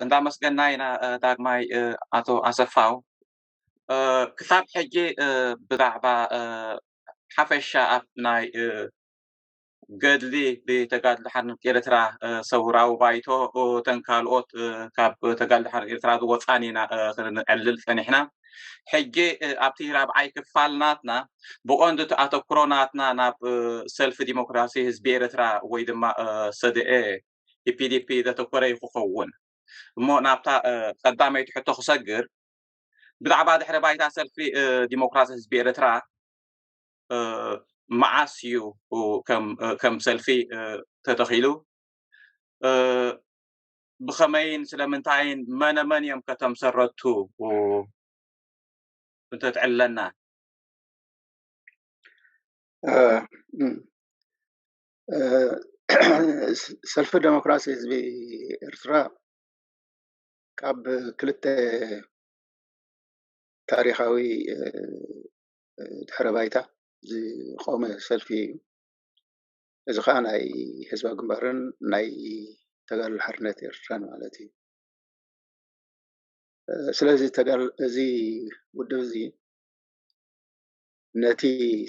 እንዳመስገና ኢና ዳግማይ ኣቶ ኣሰፋው ክሳብ ሕጂ ብዛዕባ ሓፈሻ ኣብ ናይ ገድሊ ብተጋድሎ ሓርነት ኤርትራ ሰውራዊ ባይቶ ተን ካልኦት ካብ ተጋድሎ ሓርነት ኤርትራ ዝወፃን ኢና ክንዕልል ፀኒሕና ሕጂ ኣብቲ ራብዓይ ክፋል ናትና ብቐንዱ እቲ ኣተኩሮ ናትና ናብ ሰልፊ ዲሞክራሲ ህዝቢ ኤርትራ ወይ ድማ ሰደኤ EPDP ዘተኮረ እዩ ክኸውን እሞ ናብታ ቀዳመይቲ ሕቶ ክሰግር ብዛዕባ ድሕሪ ባይታ ሰልፊ ዲሞክራሲ ህዝቢ ኤርትራ መዓስ እዩ ከም ሰልፊ ተተኺሉ ብኸመይን ስለምንታይን መነመን እዮም ከተምሰረቱ እንተትዕለና ሰልፊ ደሞክራሲ ህዝቢ ኤርትራ ካብ ክልተ ታሪኻዊ ድሕረ ባይታ ዝቆመ ሰልፊ እዩ። እዚ ከዓ ናይ ህዝባዊ ግንባርን ናይ ተጋድሎ ሓርነት ኤርትራን ማለት እዩ። ስለዚ እዚ ውድብ እዚ ነቲ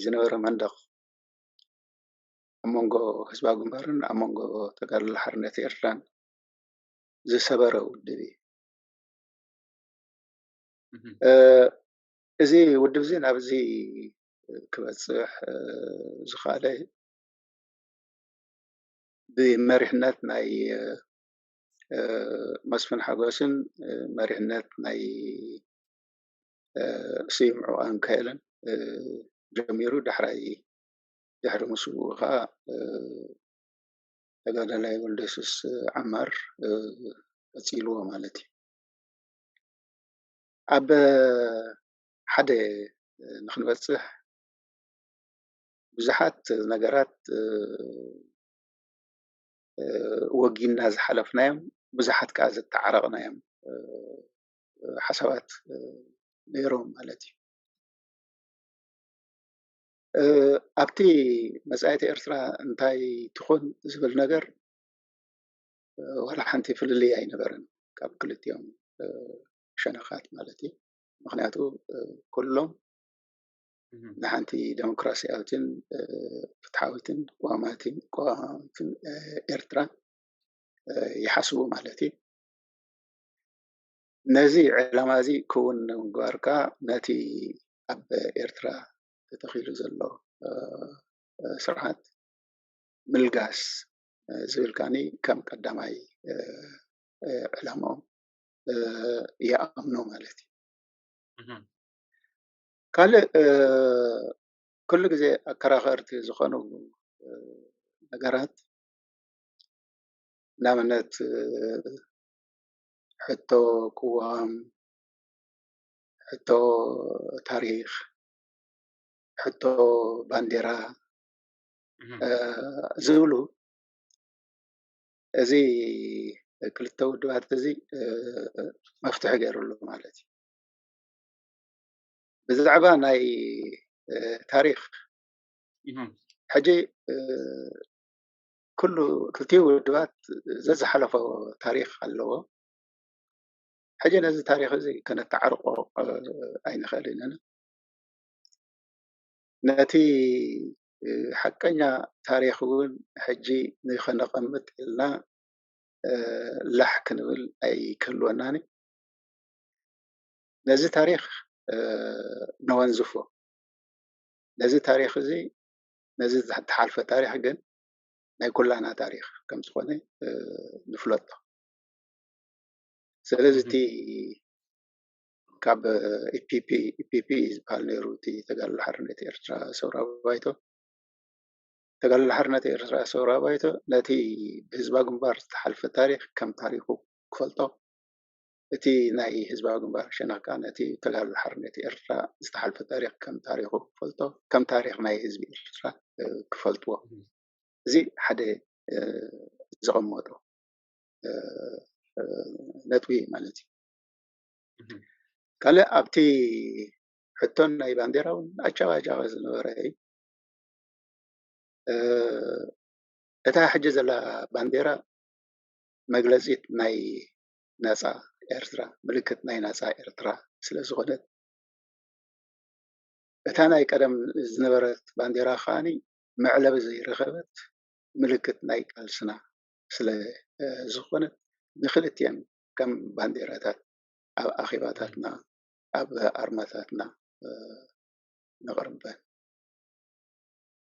ዝነበረ መንደቕ ኣብ መንጎ ህዝባዊ ግንባርን ኣብ መንጎ ተጋድሎ ሓርነት ኤርትራን ዝሰበረ ውድብ እዩ። እዚ ውድብ እዚ ናብዚ ክበፅሕ ዝኸኣለ ብመሪሕነት ናይ መስፍን ሓጎስን መሪሕነት ናይ ስዩም ዑቃንካኤልን ጀሚሩ ዳሕራይ ድሕሪ ምስውኡ ከዓ ተጋዳላይ ወልደየሱስ ዓማር ቀፂልዎ ማለት እዩ። ኣብ ሓደ ንክንበፅሕ ብዙሓት ነገራት ወጊንና ዝሓለፍናዮም ብዙሓት ከዓ ዘተዓረቕናዮም ሓሳባት ነይሮም ማለት እዩ። ኣብቲ መጻኢት ኤርትራ እንታይ ትኹን ዝብል ነገር ዋላ ሓንቲ ፍልልይ ኣይነበረን ካብ ክልቲኦም ሸነኻት ማለት እዩ ምክንያቱ ኩሎም ንሓንቲ ዴሞክራሲያዊትን ፍትሓዊትን ቋማትን ቋማትን ኤርትራ ይሓስቡ ማለት እዩ ነዚ ዕላማ እዚ ክውን ንምግባር ከዓ ነቲ ኣብ ኤርትራ ተተኺሉ ዘሎ ስርዓት ምልጋስ ዝብል ከዓኒ ከም ቀዳማይ ዕላምኦም ይኣምኑ ማለት እዩ። ካልእ ኩሉ ግዜ ኣከራኸርቲ ዝኾኑ ነገራት ንኣብነት ሕቶ ቅዋም ሕቶ ታሪክ ሕቶ ባንዴራ ዝብሉ እዚ ክልተ ውድባት እዚ መፍትሒ ገይሩሉ ማለት እዩ። ብዛዕባ ናይ ታሪክ ሕጂ ኩሉ ክልቲኡ ውድባት ዘዝሓለፎ ታሪክ ኣለዎ። ሕጂ ነዚ ታሪኽ እዚ ከነተዓርቆ ኣይንኽእልን ኢና። ነቲ ሓቀኛ ታሪኽ እውን ሕጂ ንኸነቐምጥ ኢልና ላሕ ክንብል ኣይክህልወናን እዩ። ነዚ ታሪኽ ነወንዝፎ። ነዚ ታሪኽ እዚ ነዚ ዝተሓልፈ ታሪኽ ግን ናይ ኩላና ታሪኽ ከም ዝኾነ ንፍለጦ። ስለዚ እቲ ካብ ኢፒፒ ኢፒፒ ዝበሃል ነይሩ እቲ ተጋድሎ ሓርነት ኤርትራ ሰውራ ባይቶ ተጋድሎ ሓርነት ኤርትራ ሰውራ ባይቶ ነቲ ብህዝባዊ ግንባር ዝተሓልፈ ታሪክ ከም ታሪኩ ክፈልጦ እቲ ናይ ህዝባዊ ግንባር ሸነክ ከዓ ነቲ ተጋድሎ ሓርነት ኤርትራ ዝተሓልፈ ታሪክ ከም ታሪኩ ክፈልጦ ከም ታሪክ ናይ ህዝቢ ኤርትራ ክፈልጥዎ እዚ ሓደ ዘቐመጡ ነጥቢ እዩ ማለት እዩ። ካልእ ኣብቲ ሕቶን ናይ ባንዴራ እውን ኣጨቓጫቒ ዝነበረ እዩ። እታ ሕጂ ዘላ ባንዴራ መግለጺት ናይ ናጻ ኤርትራ ምልክት ናይ ናጻ ኤርትራ ስለ ዝኾነት እታ ናይ ቀደም ዝነበረት ባንዴራ ከኣ መዕለቢ ዘይረኸበት ምልክት ናይ ቃልስና ስለ ዝኾነ ንክልቲኤን ከም ባንዴራታት ኣብ ኣኼባታትና ኣብ ኣርማታትና ነቕርበን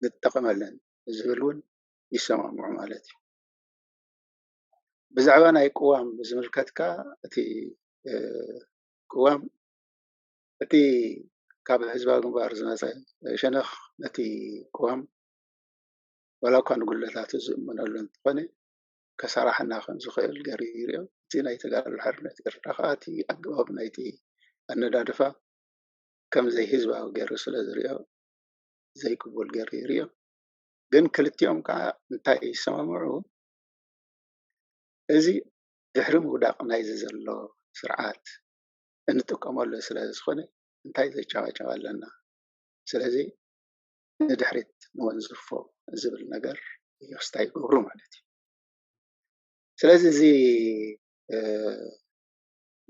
ንጠቐመለን ዝብል እውን ይሰማምዑ ማለት እዩ። ብዛዕባ ናይ ቅዋም ብዝምልከት ከኣ እቲ ቅዋም እቲ ካብ ህዝባዊ ግንባር ዝመፀ ሸነኽ ነቲ ቅዋም ዋላ እኳ ንጉድለታቱ ዝእመነሉ እንተኾነ ከሰራሕና ከም ዝኽእል ገይሩ ይሪኦ። እቲ ናይ ተጋድሎ ሓርነት ኤርትራ ከኣ እቲ ኣገባብ ናይቲ ኣነዳድፋ ከም ዘይህዝባዊ ገይሩ ስለ ዝሪኦ ዘይቅቡል ገይሩ ይሪኦ። ግን ክልቲኦም ከኣ እንታይ ይሰማምዑ እዚ ድሕሪ ምውዳቕ ናይዚ ዘሎ ስርዓት እንጥቀመሉ ስለ ዝኾነ እንታይ ዘጨባጨብ ኣለና ስለዚ ንድሕሪት ንወንዝፎ ዝብል ነገር ይወስዳ ይገብሩ ማለት እዩ። ስለዚ እዚ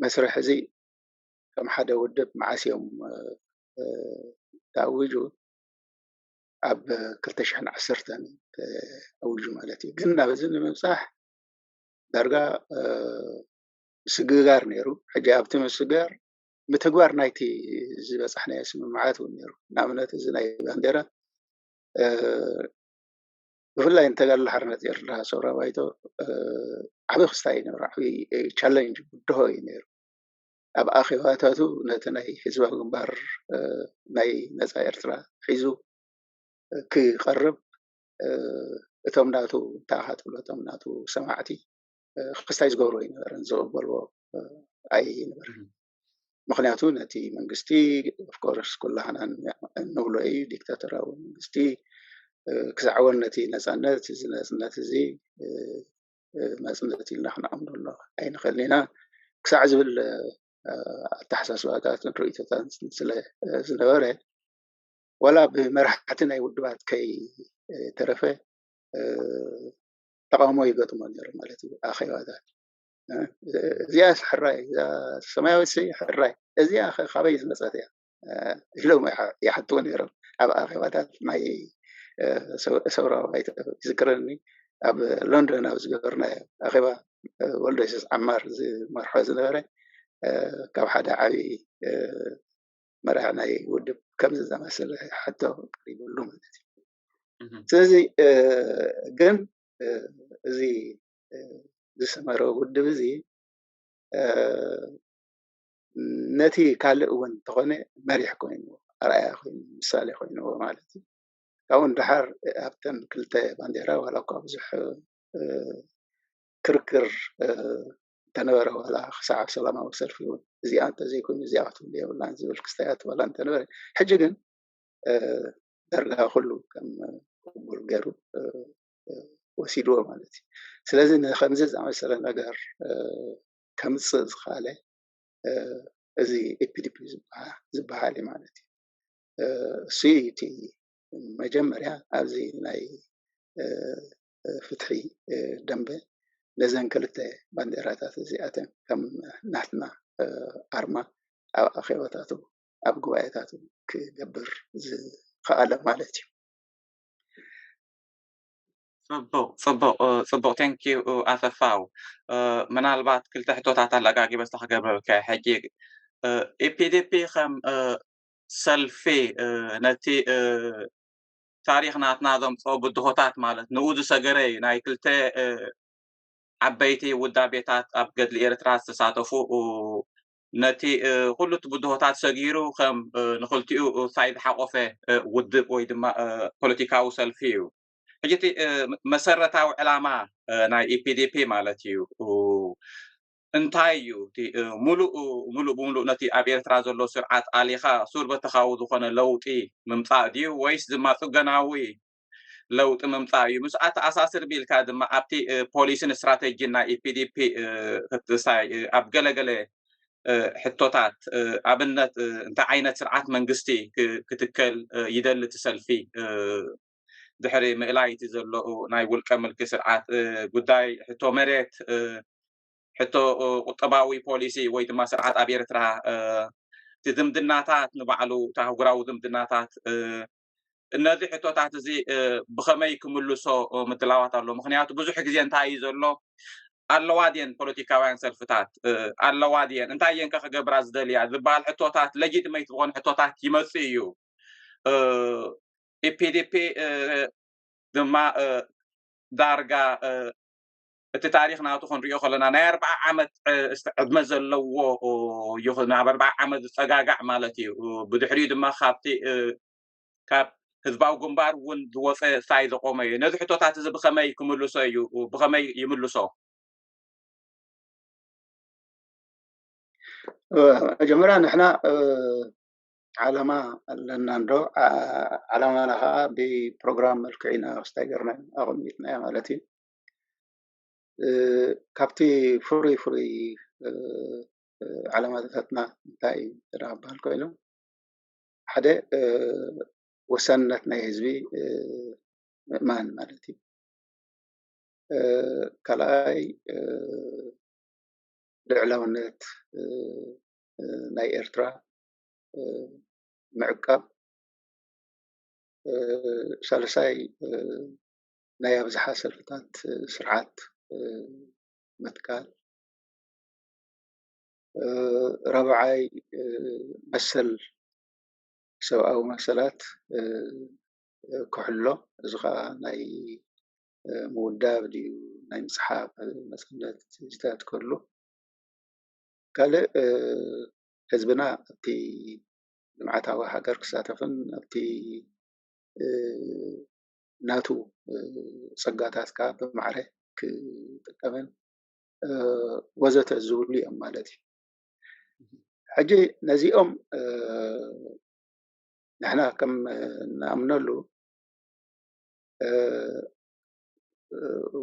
መስርሕ እዚ ከም ሓደ ውድብ መዓስ እዮም ተኣዊጁ ኣብ ክልተ ሽሕን ዓሰርተን ተኣዊጁ ማለት እዩ። ግን ናብዚ ንምብፃሕ ዳርጋ ምስግጋር ነይሩ። ሕጂ ኣብቲ ምስግጋር ምትግባር ናይቲ ዝበፃሕናዮ ስምምዓት እውን ነይሩ። ንኣብነት እዚ ናይ ባንዴራ ብፍላይ ንተጋድሎ ሓርነት ኤርትራ ሰውራ ባይቶ ዓብዪ ክስታይ እዩ ነይሩ፣ ዓብዪ ቻለንጅ ብድሆ እዩ ነይሩ። ኣብ ኣኼባታቱ ነቲ ናይ ህዝባዊ ግንባር ናይ ነፃ ኤርትራ ሒዙ ክቐርብ እቶም ናቱ እንታይ ኢኻ ትብሎ እቶም ናቱ ሰማዕቲ ክስታይ ዝገብሩ ኣይነበረን ዝቕበልዎ ኣይነበረን ምክንያቱ ነቲ መንግስቲ ኦፍኮርስ ኩላህና እንብሎ እዩ ዲክታተራዊ መንግስቲ ክሳዕወን ነቲ ነፃነት እዚ ነፅነት እዚ መፅነት ኢልና ክንኣምኖ ኣሎ ኣይንኽእል ኢና ክሳዕ ዝብል ኣተሓሳስባታትን ርእቶታት ስለ ዝነበረ ዋላ ብመራሕቲ ናይ ውድባት ከይተረፈ ተቃውሞ ይገጥሞ ነሩ ማለት እዩ ኣኼባታት እዚኣስ ሕራይ ሰማያዊት ሕራይ እዚኣ ካበይ ዝመፀት እያ ኢሎም ይሓትዎ ነሮም ኣብ ኣኼባታት ናይ ሰውራዊ ባይተ ይዝክረኒ ኣብ ሎንዶን ኣብ ዝገበርናዮ ኣኼባ ወልዶ የሱስ ዓማር ዝመርሖ ዝነበረ ካብ ሓደ ዓብዪ መራሒ ናይ ውድብ ከምዚ ዝኣመሰለ ሕቶ ቀሪብሉ ማለት እዩ ስለዚ ግን እዚ ዝሰመረ ውድብ እዚ ነቲ ካልእ እውን እንተኾነ መሪሕ ኮይኑ ኣርኣያ ኮይኑ ምሳሌ ኮይንዎ ማለት እዩ። ካብኡ ንደሓር ኣብተን ክልተ ባንዴራ ዋላ እኳ ብዙሕ ክርክር እንተነበረ ዋላ ክሳዕ ኣብ ሰላማዊ ሰልፊ እውን እዚኣ እንተዘይኮይኑ እዚኣ ክትህሉ የብላን ዝብል ክስታያት ዋላ እንተነበረ ሕጂ ግን ዳርጋ ኩሉ ከም ቅቡል ገይሩ ወሲድዎ ማለት እዩ። ስለዚ ንከምዚ ዝኣመሰለ ነገር ከምፅእ ዝኸኣለ እዚ ኤፒዲፒ ዝበሃል እዩ ማለት እዩ። እሱይ እዩ እቲ መጀመርያ ኣብዚ ናይ ፍትሒ ደምበ ነዘን ክልተ ባንዴራታት እዚኣተን ከም ናትና ኣርማ ኣብ ኣኼባታቱ ኣብ ጉባኤታት ክገብር ዝኸኣለ ማለት እዩ። ፅቡቕ ፅቡቕ ፅቡቕ ቴንኪው ኣሰፋው ምናልባት ክልተ ሕቶታት ኣለጋጊበ ስለ ክገብረልካ ሕጂ ኢፒዲፒ ከም ሰልፊ ነቲ ታሪክ ናትና ዘምፅኦ ብድሆታት ማለት ንኡ ዝሰገረ እዩ ናይ ክልተ ዓበይቲ ውዳቤታት ኣብ ገድሊ ኤርትራ ዝተሳተፉ ነቲ ኩሉ እቲ ብድሆታት ሰጊሩ ከም ንክልቲኡ ሳይድ ዝሓቆፈ ውድብ ወይ ድማ ፖለቲካዊ ሰልፊ እዩ። ሕጂ እቲ መሰረታዊ ዕላማ ናይ ኢፒዲፒ ማለት እዩ እንታይ እዩ እቲ ሙሉእ ሙሉእ ብምሉእ ነቲ ኣብ ኤርትራ ዘሎ ስርዓት ኣሊኻ ሱር በተኻዊ ዝኾነ ለውጢ ምምጻእ ድዩ ወይስ ድማ ጽገናዊ ለውጢ ምምፃእ እዩ። ምስ ኣተኣሳስር ቢልካ ድማ ኣብቲ ፖሊሲን ስትራቴጂን ናይ ኢፒዲፒ ክትሳይ ኣብ ገለገለ ሕቶታት ኣብነት እንታይ ዓይነት ስርዓት መንግስቲ ክትከል ይደሊ እቲ ሰልፊ ድሕሪ ምእላይ እቲ ዘሎ ናይ ውልቀ ምልኪ ስርዓት ጉዳይ ሕቶ መሬት ሕቶ ቁጠባዊ ፖሊሲ ወይ ድማ ስርዓት ኣብ ኤርትራ እቲ ዝምድናታት ንባዕሉ እቲ ኣህጉራዊ ዝምድናታት እነዚ ሕቶታት እዚ ብኸመይ ክምልሶ ምድላዋት ኣሎ ምክንያቱ ብዙሕ ግዜ እንታይ እዩ ዘሎ ኣለዋ ድን ፖለቲካውያን ሰልፍታት ኣለዋ ድን እንታይ እየን ከ ክገብራ ዝደልያ ዝበሃል ሕቶታት ለጂትመይት ዝኾኑ ሕቶታት ይመፅእ እዩ ኢፒዲፒ ድማ ዳርጋ እቲ ታሪክ ናቱ ክንሪኦ ከለና ናይ ኣርብዓ ዓመት ዕድመ ዘለዎ እዩ ናብ ኣርብዓ ዓመት ዝፀጋጋዕ ማለት እዩ ብድሕሪኡ ድማ ካብቲ ካብ ህዝባዊ ግንባር እውን ዝወፀ ሳይ ዘቆመ እዩ ነዚ ሕቶታት እዚ ብከመይ ክምልሶ እዩ ብከመይ ይምልሶ መጀመርያ ንሕና ዓላማ ኣለና እንዶ ዓላማና ከዓ ብፕሮግራም መልክዕ ኢና ክስታይ ገርና ኣቐሚጥናዮ ማለት እዩ ካብቲ ፍሩይ ፍሩይ ዓላማታትና እንታይ እዩ እንተ ክበሃል ኮይኑ ሓደ ወሳንነት ናይ ህዝቢ ምእማን ማለት እዩ። ካልኣይ ልዕላውነት ናይ ኤርትራ ምዕቃብ፣ ሳልሳይ ናይ ኣብዝሓ ሰልፍታት ስርዓት ምትካል፣ ራብዓይ መሰል ሰብኣዊ መሰላት ክሕሎ እዚ ከዓ ናይ ምውዳብ ድዩ ናይ ምፅሓፍ ነፃነት እዚታት ክህሉ ካልእ ህዝብና ኣብቲ ልምዓታዊ ሃገር ክሳተፍን ኣብቲ ናቱ ፀጋታት ከዓ ብማዕረ ክጥቀምን ወዘተ ዝብሉ እዮም ማለት እዩ። ሕጂ ነዚኦም ንሕና ከም ንኣምነሉ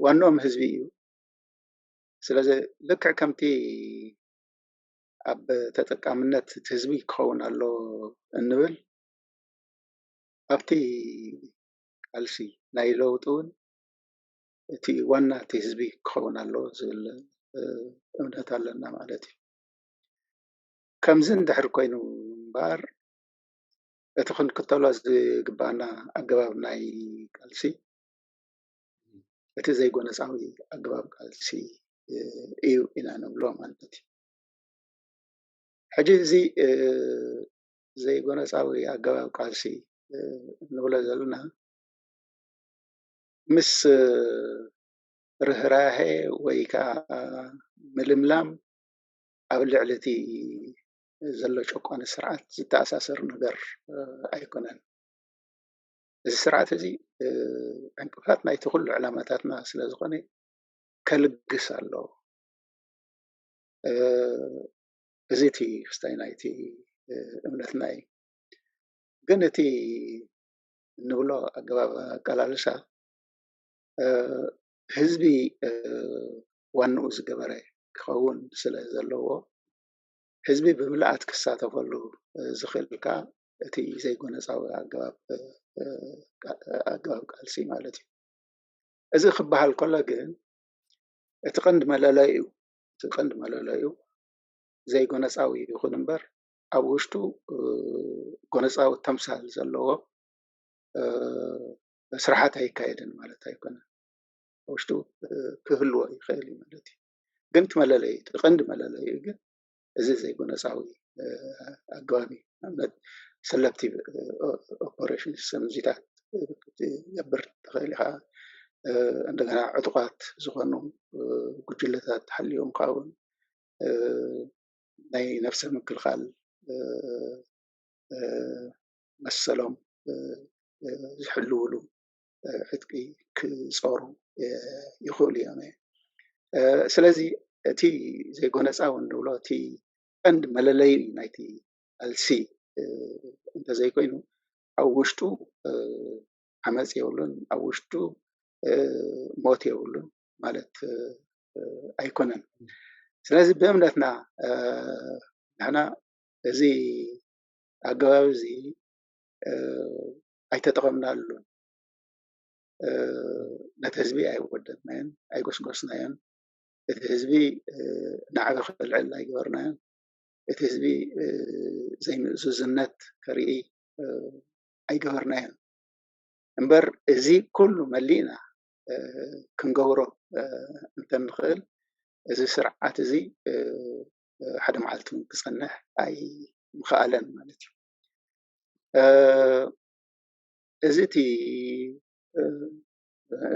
ዋንኦም ህዝቢ እዩ። ስለዚ ልክዕ ከምቲ ኣብ ተጠቃምነት እቲ ህዝቢ ክኸውን ኣለዎ እንብል ኣብቲ ቃልሲ ናይ ለውጢ እውን እቲ ዋና እቲ ህዝቢ ክኸውን ኣለዎ ዝብል እምነት ኣለና ማለት እዩ። ከምዚ እንድሕር ኮይኑ እምበኣር እቲ ክንክተሎ ዝግበኣና ኣገባብ ናይ ቃልሲ እቲ ዘይጎነፃዊ ኣገባብ ቃልሲ እዩ ኢና ንብሎ ማለት እዩ። ሕጂ እዚ ዘይጎነጻዊ ኣገባብ ቃልሲ እንብሎ ዘለና ምስ ርህራሀ ወይ ከዓ ምልምላም ኣብ ልዕሊ እቲ ዘሎ ጨቋኒ ስርዓት ዝተኣሳሰር ነገር ኣይኮነን። እዚ ስርዓት እዚ ዕንቅፋት ናይቲ ኩሉ ዕላማታትና ስለ ዝኾነ ከልግስ ኣለዎ። እዚ እቲ ክስታይ ናይቲ እምነትና እዩ ግን እቲ እንብሎ ኣገባብ ኣቀላልሳ ህዝቢ ዋንኡ ዝገበረ ክኸውን ስለ ዘለዎ ህዝቢ ብምልኣት ክሳተፈሉ ዝኽእል ከዓ እቲ ዘይጎነፃዊ ኣገባብ ኣገባብ ቃልሲ ማለት እዩ እዚ ክበሃል ከሎ ግን እቲ ቀንዲ መለለዩ እቲ ቀንዲ መለለዩ ዘይጎነጻዊ ይኹን እምበር ኣብ ውሽጡ ጎነጻዊ ተምሳል ዘለዎ ስርሓት ኣይካየድን ማለት ኣይኮነን። ኣብ ውሽጡ ክህልዎ ይኽእል እዩ ማለት እዩ። ግን እቲ መለለዩ እቲ ቀንዲ መለለዩ ግን እዚ ዘይጎነጻዊ ኣገባብ እዩ። ንኣብነት ሰለክቲቭ ኦፐሬሽን ሰምዚታት ክትገብር ትኽእል ኢኻ። እንደገና ዕጡቓት ዝኾኑ ጉጅለታት ሓልዮም ካውን ናይ ነብሰ ምክልኻል መሰሎም ዝሕልውሉ ዕጥቂ ክፆሩ ይኽእሉ እዮም። ስለዚ እቲ ዘይጎነፃዊ እንብሎ እቲ ቀንዲ መለለዪ ናይቲ ቃልሲ እንተዘይኮይኑ ኣብ ውሽጡ ዓመፅ የብሉን፣ ኣብ ውሽጡ ሞት የብሉን። ማለት ኣይኮነን ስለዚ ብእምነትና ንሕና እዚ ኣገባብ እዚ ኣይተጠቐምናሉ ነቲ ህዝቢ ኣይወደድናዮን ኣይጎስጎስናዮን እቲ ህዝቢ ናዕቢ ክልዕል ኣይገበርናዮን እቲ ህዝቢ ዘይምእዙዝነት ከርኢ ኣይገበርናዮን እምበር እዚ ኩሉ መሊእና ክንገብሮ እንተንኽእል እዚ ስርዓት እዚ ሓደ መዓልቲ እውን ክፀንሕ ኣይምኸኣለን ማለት እዩ። እዚ እቲ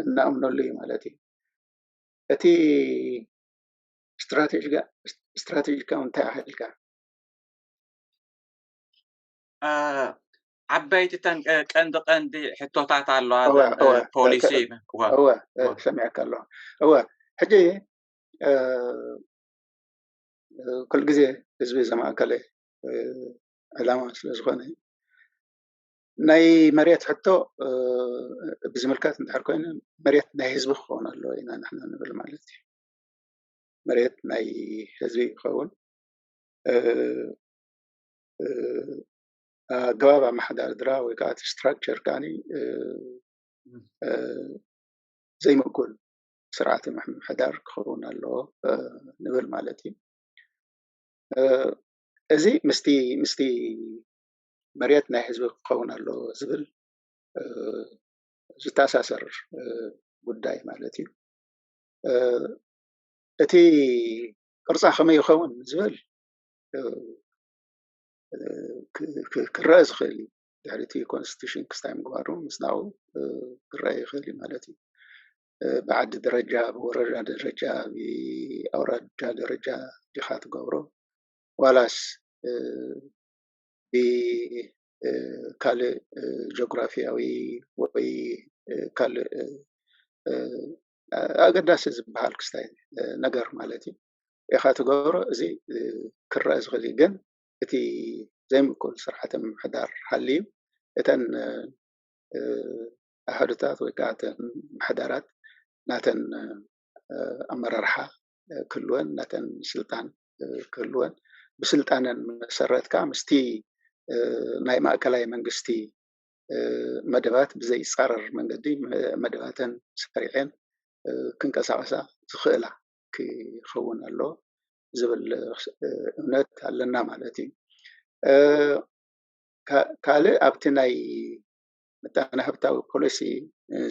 እንኣምነሉ እዩ ማለት እዩ። እቲ ስትራቴጂካ እንታይ ኣሃድካ? ዓበይቲ ተን ቀንዲ ቀንዲ ሕቶታት ኣለዋ ፖሊሲ እወ ሰሚዐካ ኣለዋ እወ ሕጂ ኩሉ ግዜ ህዝቢ ዘማእከለ ዕላማ ስለ ዝኾነ ናይ መሬት ሕቶ ብዝምልከት እንድሕር ኮይኑ መሬት ናይ ህዝቢ ክኸውን ኣለዎ ኢና ንሕና ንብል ማለት እዩ መሬት ናይ ህዝቢ ክኸውን ኣገባብ ኣመሓዳርድራ ወይ ከዓ እቲ ስትራክቸር ከዓ ዘይምእኩል ስርዓተ ምሕደር ክኸውን ኣለዎ ንብል ማለት እዩ እዚ ምስቲ ምስቲ መሬት ናይ ህዝቢ ክኸውን ኣለዎ ዝብል ዝተኣሳሰር ጉዳይ ማለት እዩ እቲ ቅርፃ ከመይ ይኸውን ዝብል ክረአ ዝኽእል እዩ ድሕሪ እቲ ኮንስቲቱሽን ክስታይ ምግባሩ ምስናኡ ክረአ ይኽእል እዩ ማለት እዩ ብዓዲ ደረጃ ብወረዳ ደረጃ ብኣውራጃ ደረጃ ዲኻ ትገብሮ ዋላስ ብካልእ ጂኦግራፊያዊ ወይ ካልእ ኣገዳሲ ዝበሃል ክስታይ ነገር ማለት እዩ ኢኻ ትገብሮ እዚ ክረኣ ዝኽእል እዩ ግን እቲ ዘይምቅቡል ስርዓተ ምምሕዳር ሃልዩ እተን ኣሃዱታት ወይ ከኣ እተን ምሕደራት ናተን ኣመራርሓ ክህልወን ናተን ስልጣን ክህልወን ብስልጣነን መሰረት ከኣ ምስቲ ናይ ማእከላይ መንግስቲ መደባት ብዘይጻረር መንገዲ መደባተን ሰሪዔን ክንቀሳቐሳ ዝኽእላ ክኸውን ኣለዎ ዝብል እምነት ኣለና ማለት እዩ። ካልእ ኣብቲ ናይ ምጣነ ሃብታዊ ፖሊሲ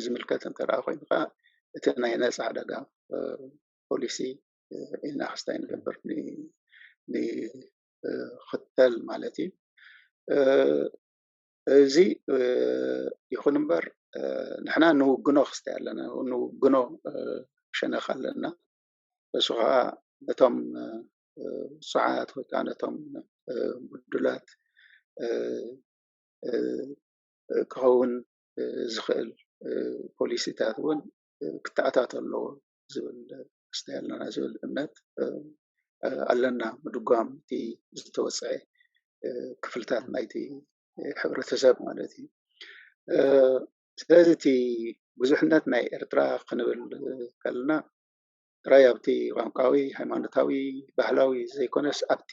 ዝምልከት እንተ ኮይኑ ከዓ እቲ ናይ ነፃ ዕዳጋ ፖሊሲ ኢልና ክስታይ ንገብር ንኽተል ማለት እዩ። እዚ ይኹን እምበር ንሕና ንውግኖ ክስታይ ኣለና ንውግኖ ክሸነኽ ኣለና እሱ ከዓ ነቶም ውፁዓት ወይ ከዓ ነቶም ብዱላት ክኸውን ዝኽእል ፖሊሲታት እውን ክተኣታቶ ኣለዎ። ዝብል ክስታይ ኣለና ዝብል እምነት ኣለና ምድጓም እቲ ዝተወፀዐ ክፍልታት ናይቲ ሕብረተሰብ ማለት እዩ። ስለዚ እቲ ብዙሕነት ናይ ኤርትራ ክንብል ከለና ጥራይ ኣብቲ ቋንቋዊ፣ ሃይማኖታዊ፣ ባህላዊ ዘይኮነስ ኣብቲ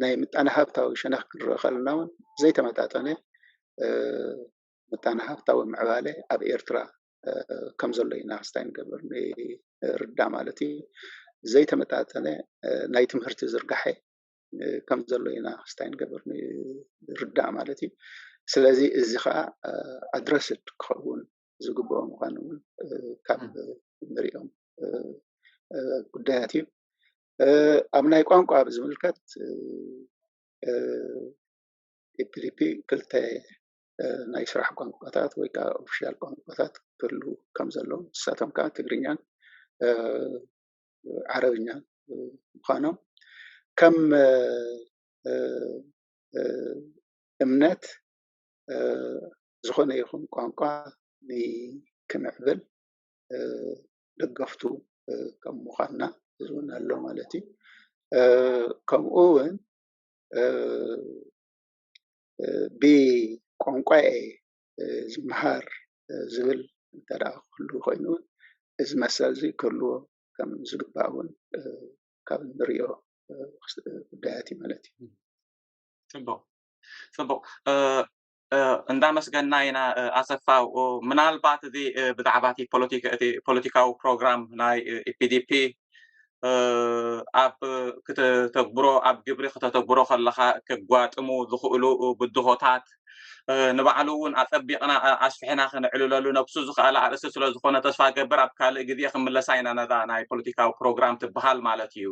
ናይ ምጣነ ሃፍታዊ ሸነኽ ክንርኢ ከለና እውን ዘይተመጣጠነ ምጣነ ሃፍታዊ ምዕባለ ኣብ ኤርትራ ከም ዘሎ ኢና ክስታይ ንገብር ንርዳእ ማለት እዩ። ዘይተመጣጠነ ናይ ትምህርቲ ዝርጋሐ ከም ዘሎ ኢና ክስታይ ንገብር ንርዳእ ማለት እዩ። ስለዚ እዚ ከዓ ኣድረስድ ክኸውን ዝግብኦ ምዃኑ እውን ካብ ንሪኦም ጉዳያት እዩ። ኣብ ናይ ቋንቋ ብዝምልከት ኤፒዲፒ ክልተ ናይ ስራሕ ቋንቋታት ወይ ከዓ ኦፊሻል ቋንቋታት ክህሉ ከም ዘለዎም ንሳቶም ከዓ ትግርኛን ዓረብኛን ምኳኖም ከም እምነት ዝኾነ ይኹን ቋንቋ ክምዕብል ደገፍቱ ከም ምኳንና እዚ እውን ኣሎ ማለት እዩ ከምኡ እውን ብቋንቋየ ዝመሃር ዝብል እንተ ደኣ ክህሉ ኮይኑ እውን እዚ መሰል እዚ ክህልዎ ከም ዝግባእ እውን ካብ እንርእዮ ጉዳያት እዩ ማለት እዩ። ፅቡቕ ፅቡቕ እንዳመስገና ኢና ኣሰፋ ምናልባት እዚ ብዛዕባ እቲ ፖለቲካዊ ፕሮግራም ናይ ኢፒዲፒ ኣብ ክተተግብሮ ኣብ ግብሪ ክተተግብሮ ከለካ ከጓጥሙ ዝኽእሉ ብድሆታት ንባዕሉ እውን ኣፀቢቕና ኣስፍሕና ክንዕልለሉ ነብሱ ዝኽኣለ ኣርእስቲ ስለ ዝኾነ ተስፋ ገብር ኣብ ካልእ ግዜ ክምለሳ ኢና ነዛ ናይ ፖለቲካዊ ፕሮግራም ትበሃል ማለት እዩ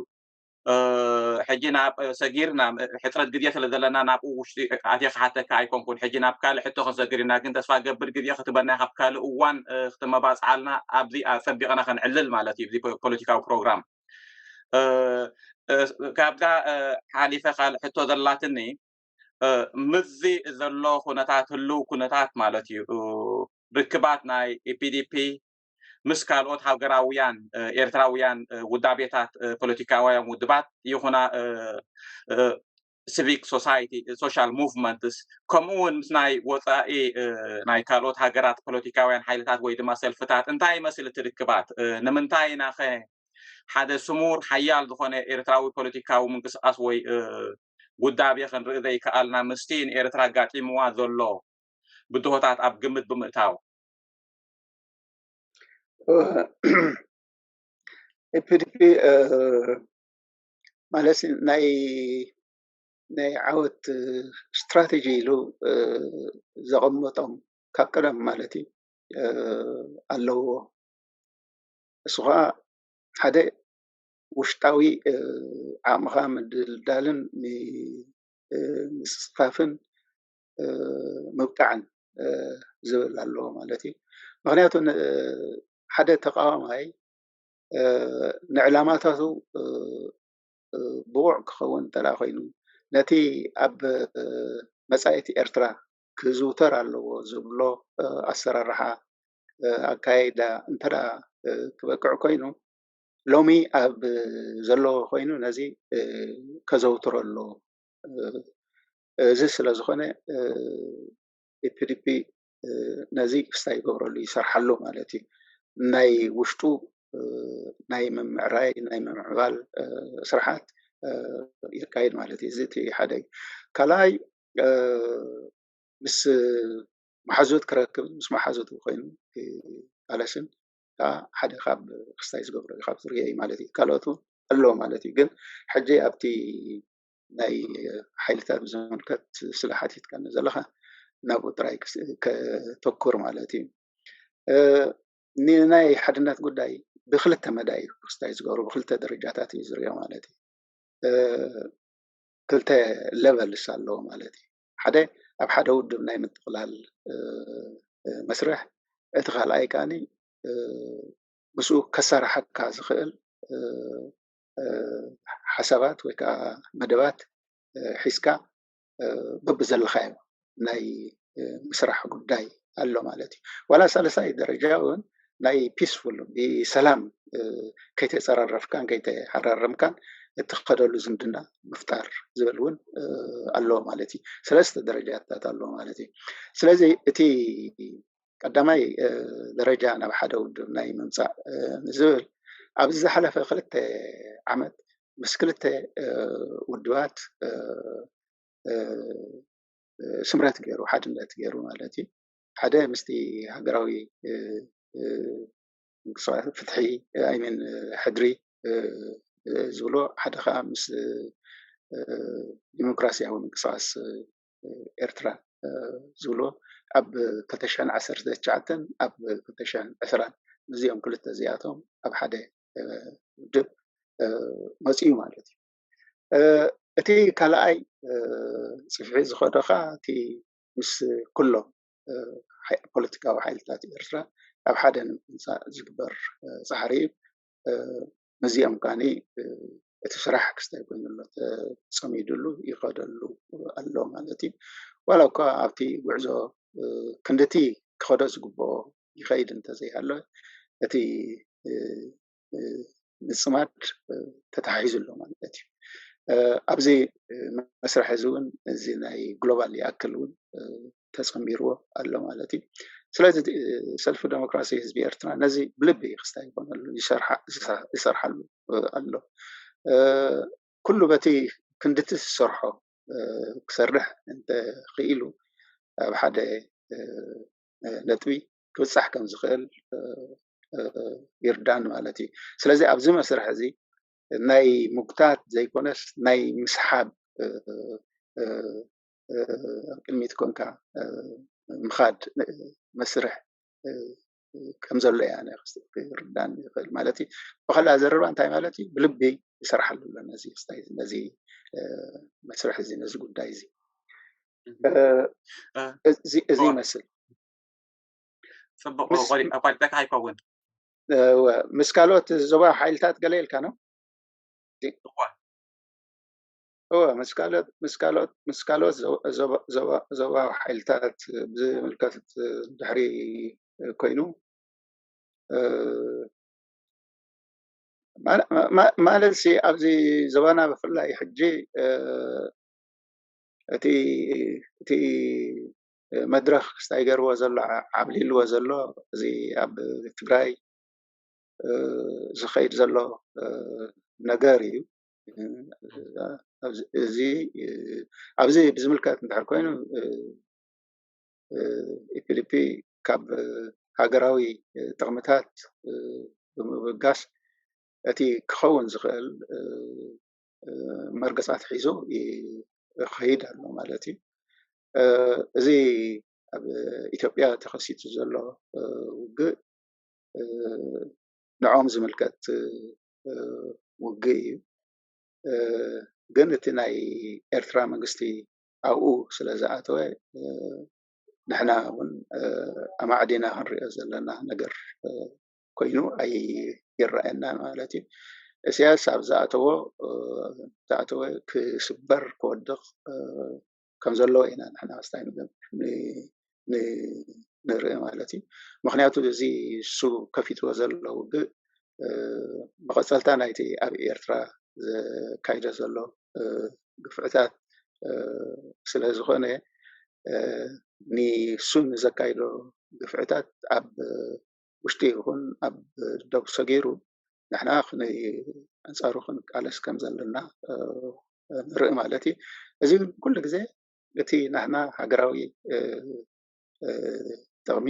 ሕጂ ናብ ሰጊር ናብ ሕፅረት ግዜ ስለ ዘለና ናብኡ ውሽጢ ኣትየ ክሓተካ ኣይኮንኩን ሕጂ ናብ ካልእ ሕቶ ክንሰግር ኢና ግን ተስፋ ገብር ግዜ ክትበና ካብ ካልእ እዋን ክተመባፅዓልና ኣብዚ ፀቢቐና ከነዕልል ማለት እዩ እዚ ፖለቲካዊ ፕሮግራም ካብዛ ሓሊፈ ካልእ ሕቶ ዘላትኒ ምዚ ዘሎ ኩነታት ህልው ኩነታት ማለት እዩ ርክባት ናይ ኢፒዲፒ ምስ ካልኦት ሃገራውያን ኤርትራውያን ውዳቤታት ፖለቲካውያን ውድባት ይኹና ሲቪክ ሶሳይቲ ሶሻል ሙቭመንትስ ከምኡ እውን ምስ ናይ ወፃኢ ናይ ካልኦት ሃገራት ፖለቲካውያን ሓይልታት ወይ ድማ ሰልፍታት እንታይ ይመስል እቲ ርክባት ንምንታይ ኢና ኸ ሓደ ስሙር ሓያል ዝኾነ ኤርትራዊ ፖለቲካዊ ምንቅስቃስ ወይ ውዳቤ ክንርኢ ዘይከኣልና ምስቲ ንኤርትራ ኣጋጢምዋ ዘሎ ብድሆታት ኣብ ግምት ብምእታው ኤፒዲፒ ማለት ናይ ናይ ዓወት ስትራተጂ ኢሉ ዘቐመጦም ካብ ቀደም ማለት እዩ ኣለዎ። ንሱ ኸዓ ሓደ ውሽጣዊ ዓቕምኻ ምድልዳልን ምስፍፋን ምብቃዕን ዝብል ኣለዎ ማለት እዩ። ምኽንያቱ ሓደ ተቃዋማይ ንዕላማታቱ ብቑዕ ክኸውን እንተ ኮይኑ ነቲ ኣብ መጻኢት ኤርትራ ክዝውተር ኣለዎ ዝብሎ ኣሰራርሓ ኣካይዳ እንተ ክበቅዕ ኮይኑ ሎሚ ኣብ ዘለዎ ኮይኑ ነዚ ከዘውትሮ ኣለዎ። እዚ ስለ ዝኾነ ኢፒዲፒ ነዚ ክስታይ ይገብረሉ ይሰርሓሉ ማለት እዩ ናይ ውሽጡ ናይ ምምዕራይ ናይ ምምዕባል ስርሓት የካይድ ማለት እዩ እዚ እቲ ሓደ እዩ ካልኣይ ምስ መሓዙት ክረክብ ምስ መሓዙት ኮይኑ ኣለሽን ከዓ ሓደ ካብ ክስታይ ዝገብረ ካብ ዝርዮ እዩ ማለት እዩ ካልኦት ኣለዎ ማለት እዩ ግን ሕጂ ኣብቲ ናይ ሓይልታት ብዝምልከት ስለ ሓቲትካኒ ዘለካ ናብኡ ጥራይ ከተኩር ማለት እዩ ንናይ ሓድነት ጉዳይ ብክልተ መዳይ እዩ ክስታይ ዝገብሩ ብክልተ ደረጃታት እዩ ዝርኦ ማለት እዩ ክልተ ለቨልስ ኣለዎ ማለት እዩ ሓደ ኣብ ሓደ ውድብ ናይ ምጥቅላል መስርሕ እቲ ካልኣይ ከዓኒ ምስኡ ከሰራሓካ ዝክእል ሓሳባት ወይ ከዓ መደባት ሒዝካ በብዘለኻዮ ናይ ምስራሕ ጉዳይ ኣሎ ማለት እዩ ዋላ ሳለሳይ ደረጃ እውን ናይ ፒስፉል ብሰላም ከይተፀራረፍካን ከይተሓራረምካን እትኸደሉ ዝምድና ምፍጣር ዝብል እውን ኣሎ ማለት እዩ ሰለስተ ደረጃታት ኣሎ ማለት እዩ ስለዚ እቲ ቀዳማይ ደረጃ ናብ ሓደ ውድብ ናይ ምምፃእ ዝብል ኣብዚ ዝሓለፈ ክልተ ዓመት ምስ ክልተ ውድባት ስምረት ገይሩ፣ ሓድነት ገይሩ ማለት እዩ። ሓደ ምስቲ ሃገራዊ ምንቅስቓስ ፍትሒ ኣይሚን ሕድሪ ዝብሎ ሓደ ከዓ ምስ ዲሞክራስያዊ ምንቅስቓስ ኤርትራ ዝብልዎ ኣብ ክልተ ሽሕን ዓሰርተ ትሽዓተን ኣብ ክልተ ሽሕን ዕስራን እዚኦም ክልተ እዚኣቶም ኣብ ሓደ ውድብ መፂኡ ማለት እዩ። እቲ ካልኣይ ፅፍሒ ዝኸዶ ከዓ እቲ ምስ ኩሎም ፖለቲካዊ ሓይልታት ኤርትራ ኣብ ሓደ ንምምፃእ ዝግበር ፃዕሪ እዩ። ነዚኦም ከኣኒ እቲ ስራሕ ክስታይ ኮይኑ ኣሎ ተጸሚድሉ ይኸደሉ ኣሎ ማለት እዩ ዋላ እኳ ኣብቲ ጉዕዞ ክንድቲ ክኸዶ ዝግብኦ ይኸይድ እንተዘይሃለ እቲ ምጽማድ ተተሓሒዙ ኣሎ ማለት እዩ ኣብዚ መስርሕ እዚ እውን እዚ ናይ ግሎባል ይኣክል እውን ተፀንቢርዎ ኣሎ ማለት እዩ። ስለዚ ሰልፊ ደሞክራሲ ህዝቢ ኤርትራ ነዚ ብልቢ ክስታይ ይኾነሉ ይሰርሓሉ ኣሎ። ኩሉ በቲ ክንድቲ ዝሰርሖ ክሰርሕ እንተኽኢሉ ኣብ ሓደ ነጥቢ ክብጻሕ ከም ዝኽእል ይርዳን ማለት እዩ። ስለዚ ኣብዚ መስርሕ እዚ ናይ ምጉታት ዘይኮነስ ናይ ምስሓብ ኣብ ቅድሚት ኮንካ ምኻድ መስርሕ ከም ዘሎ እያ ክርዳኒ ይኽእል ማለት እዩ ብካልእ ኣዘረባ እንታይ ማለት እዩ ብልቢ ይሰርሓሉ ኣሎ ነዚ ክስታይ ነዚ መስርሕ እዚ ነዚ ጉዳይ እዚ እዚ ይመስል ፅቡቅ ቆሊጠካ ኣይከውን ምስ ካልኦት ዞባ ሓይልታት ገለ ኢልካ ነው እወ ምስ ካልኦት ምስ ካልኦት ምስ ካልኦት ዞባዊ ሓይልታት ብዝምልከት ድሕሪ ኮይኑ ማለት ሲ ኣብዚ ዞባና ብፍላይ ሕጂ እቲ እቲ መድረኽ ክስታይ ገይርዎ ዘሎ ዓብሊልዎ ዘሎ እዚ ኣብ ትግራይ ዝኸይድ ዘሎ ነገር እዩ እዚ ኣብዚ ብዝምልከት እንድሕር ኮይኑ ኢፒዲፒ ካብ ሃገራዊ ጥቅምታት ብምብጋስ እቲ ክኸውን ዝኽእል መርገጻት ሒዙ ይኸይድ ኣሎ ማለት እዩ። እዚ ኣብ ኢትዮጵያ ተኸሲቱ ዘሎ ውግእ ንዕኦም ዝምልከት ውግእ እዩ ግን እቲ ናይ ኤርትራ መንግስቲ ኣብኡ ስለ ዝኣተወ ንሕና እውን ኣማዕዲና ክንሪኦ ዘለና ነገር ኮይኑ ኣይረኣየናን ማለት እዩ። ኢሳያስ ኣብ ዝኣተዎ ዝኣተወ ክስበር ክወድቕ ከም ዘለዎ ኢና ንሕና ምስታይ ንርኢ ማለት እዩ ምክንያቱ እዚ እሱ ከፊትዎ ዘሎ ውግእ መቐፀልታ ናይቲ ኣብ ኤርትራ ዘካይዶ ዘሎ ግፍዕታት ስለ ዝኾነ ንሱ ንዘካይዶ ግፍዕታት ኣብ ውሽጢ ይኹን ኣብ ዶብ ሰጊሩ ንሕና ክንይ ኣንጻሩ ክንቃለስ ከም ዘለና ንርኢ ማለት እዩ። እዚ ግን ኩሉ ግዜ እቲ ናህና ሃገራዊ ጥቕሚ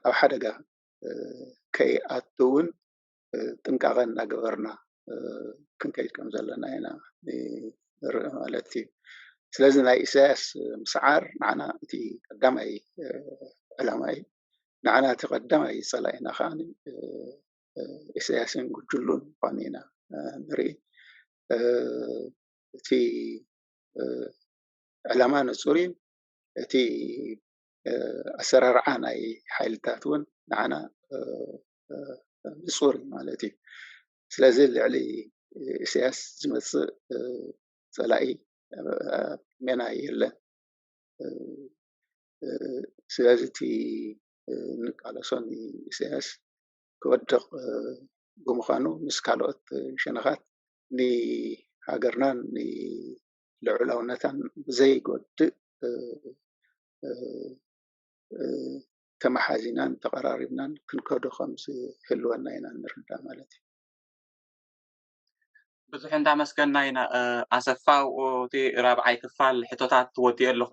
ኣብ ሓደጋ ከይኣቱውን ጥንቃቐ እናገበርና ክንከይድ ከም ዘለና ኢና ንርኢ ማለት እዩ። ስለዚ ናይ ኢሳያስ ምስዓር ንዓና እቲ ቀዳማይ ዕላማ እዩ። ንዓና እቲ ቀዳማይ ጸላኢና ከዓ ኢሳያስን ጉጅሉን ምዃኑ ኢና ንርኢ። እቲ ዕላማ ንጹር እዩ። እቲ ኣሰራርዓ ናይ ሓይልታት እውን ንዓና ንፁር እዩ ማለት እዩ። ስለዚ ልዕሊ ኢሳያስ ዝመፅእ ፀላኢ ኣብ ሜና የለን። ስለዚ እቲ እንቃለሶ ንኢሳያስ ክወድቕ ብምዃኑ ምስ ካልኦት ሸነኻት ንሃገርናን ንልዑላውነታን ብዘይጎድእ ተመሓዚናን ተቐራሪብናን ክንከዶ ከም ዝህልወና ኢና እንርዳእ ማለት እዩ። ብዙሕ እንዳመስገና ኢና ኣሰፋው እቲ ራብዓይ ክፋል ሕቶታት ወዲኤ ኣለኹ።